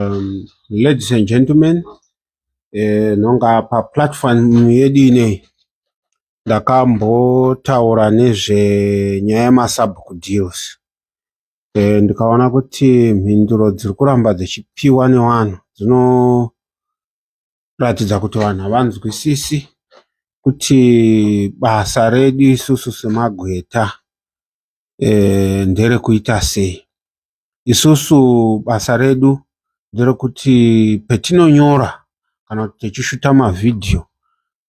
Um, ladies and gentlemen, eh, nonga pa platform yedu ineyi ndakambotaura nezvenyaya yemasabhuku deals eh, ndikaona kuti mhinduro dziri kuramba dzichipiwa nevanhu dzinoratidza kuti vanhu havanzwisisi kuti basa redu isusu semagweta eh, nderekuita sei Isusu basa redu nderokuti petinonyora kana kuti techishuta mavhidhiyo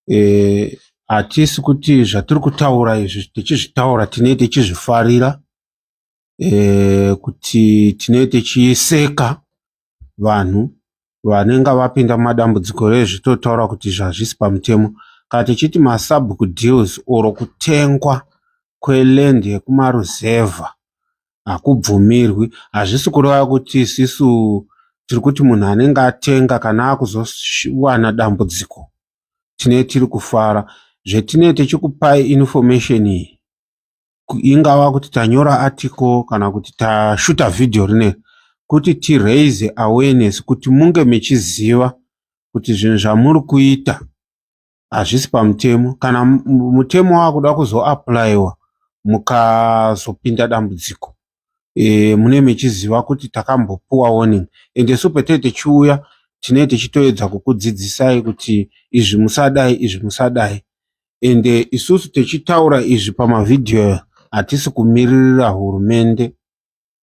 eh, hatisi kuti zvatiri kutaura izvi techizvitaura tinee techizvifarira eh, kuti tinee techiseka vanhu vanenge vapinda mumadambudziko rezvi totaura kuti zvazvisi pamutemo kana tichiti masabhuku deals or kutengwa kweland yekumaruzevha hakubvumirwi hazvisi kureva kuti isisu tiri kuti munhu anenge atenga kana akuzowana dambudziko tine tiri kufara zvetinee tichikupai information iyi ingava kuti tanyora article kana kuti tashuta video rine kuti tiraise awareness kuti munge mechiziva kuti zvinhu zvamuri kuita hazvisi pamutemo kana mutemo wakuda kuzoaplayiwa mukazopinda dambudziko e, mune mechiziva kuti takambopuwa warning ende so patinenge tichiuya tinenge tichitoedza kukudzidzisai kuti izvi musadai izvi musadai ende isusu tichitaura izvi pamavhidhiyo hatisi kumiririra hurumende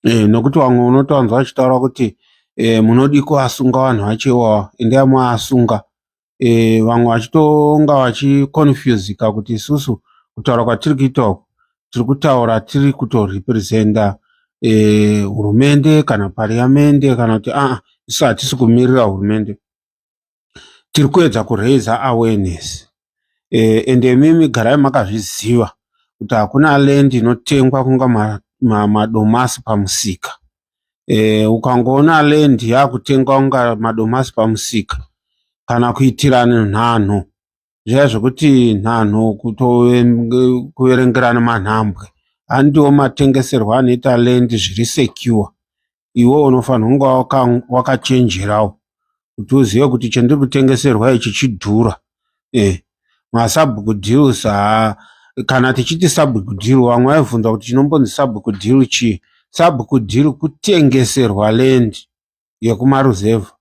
e, nokuti vamwe unotowanzwa vachitaura kuti e, munodiko asunga vanhu vacho iwawa ende amwe asunga e, vamwe vachitonga vachiconfusika kuti isusu kutaura kwatiri kuita uku tiri kutaura tiri kutorepresenta e, hurumende kana pariamende kana kuti aa ah, isu hatisi kumirira hurumende tiri kuedza kuraiza awareness e, and imimi garai makazviziva kuti hakuna land inotengwa kunga madomasi ma, ma pamusika e, ukangoona land yakutengwa kunga madomasi pamusika kana kuitirana nhanho zviya zvekuti nhanho kutokuverengerana manhambwe handiwo matengeserwo anoita land zviri secure iwe unofanira kunga wakachenjerawo kuti uzive kuti chandiri kutengeserwa ichi chidhura eh masabhuku deals haa kana tichiti sabhuku dhiri vamwe vaivhunza kuti chinombonzi sabhuku dhiri chii sabhuku dhiri kutengeserwa land yekumaruzevha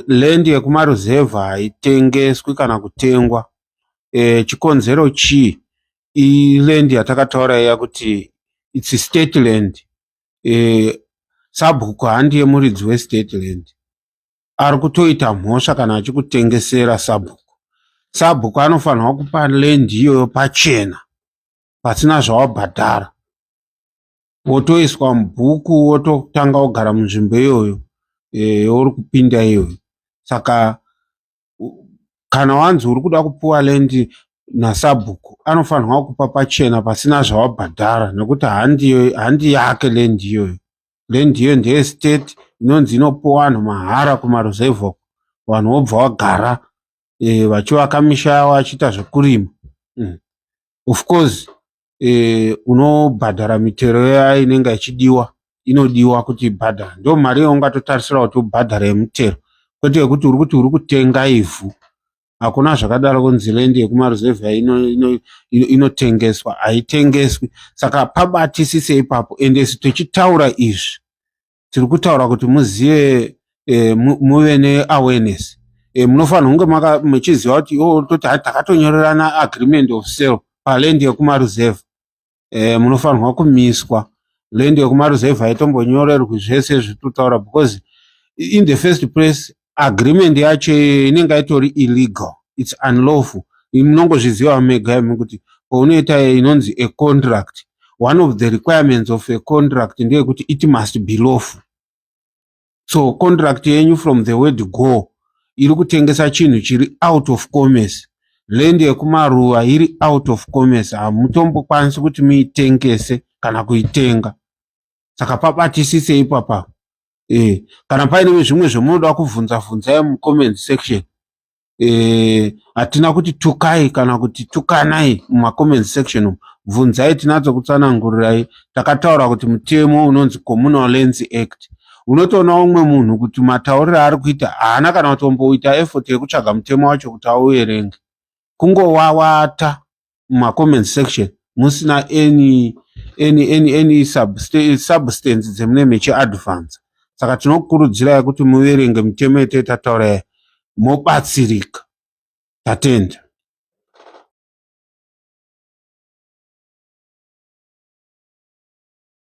land yekumaruzevha haitengeswi kana kutengwa e, chikonzero chii iland yatakataura iya kuti its state land e, sabhuku handi yemuridzi westate land ari kutoita mhosva kana achikutengesera sabhuku sabhuku anofanirwa kupa lendi iyoyo pachena pasina zvawabhadhara wotoiswa mubhuku wototanga wogara munzvimbo iyoyo e, uri kupinda iyoyo saka kana wanzi uri kuda kupiwa lendi nasabhuku anofanirwa kupa pachena pasina zvawabhadhara nekuti handi yake lendi iyoyo land iyoyo ndeestate inonzi inopiwa vanhu mahara kumaruzevha uko vanhu vobva vagara e, vachivaka misha yavo vachiita zvekurima mm. of course e, unobhadhara mitero iya inenge ichidiwa inodiwa kuti ibhadhara ndo mari yaungatotarisira kuti ubhadhara yemutero kwete yekuti uri kuti uri kutenga ivhu hakuna zvakadaro kunzi land yekumaruzevha inotengeswa ino, ino haitengeswi saka pabatisise ipapo ende si tichitaura izvi tiri kutaura kuti muzive e, muve neawareness e, munofanira kunge muchiziva kuti o oh, toti hai takatonyorerana agreement of sale paland yekumaruzevha eh, munofanirwa kumiswa land yekumaruzevha haitombonyorerwi zvese zvitotaura because in the first place agreement yacho inenge itori illegal its unlawful munongozviziva mega imi kuti paunoita inonzi a contract one of the requirements of a contract ndeyekuti it must be lawful so contract yenyu from the word go iri kutengesa chinhu chiri out of commerce land yekumaruva iri out of commerce hamutombokwanisi kuti muitengese kana kuitenga saka pabatisise ipapa e, eh, kana paine zvimwe zvamunoda kuvhunza vhunzai mucomment section eh, hatina kuti tukai kana kuti tukanai mumacomment section bvunzai tinadzo kutsanangurirai takataura kuti mutemo unonzi communal lands act unotoona umwe munhu kuti matauriro aari kuita haana kana kutomboita effort yekutsvaga mutemo wacho kuti auerenge kungowawata mumacomment section musina any any any any substance dzemunenge mechiadvansa saka tinokurudzirai kuti muverenge mitemo yete tataura yayo mobatsirika tatenda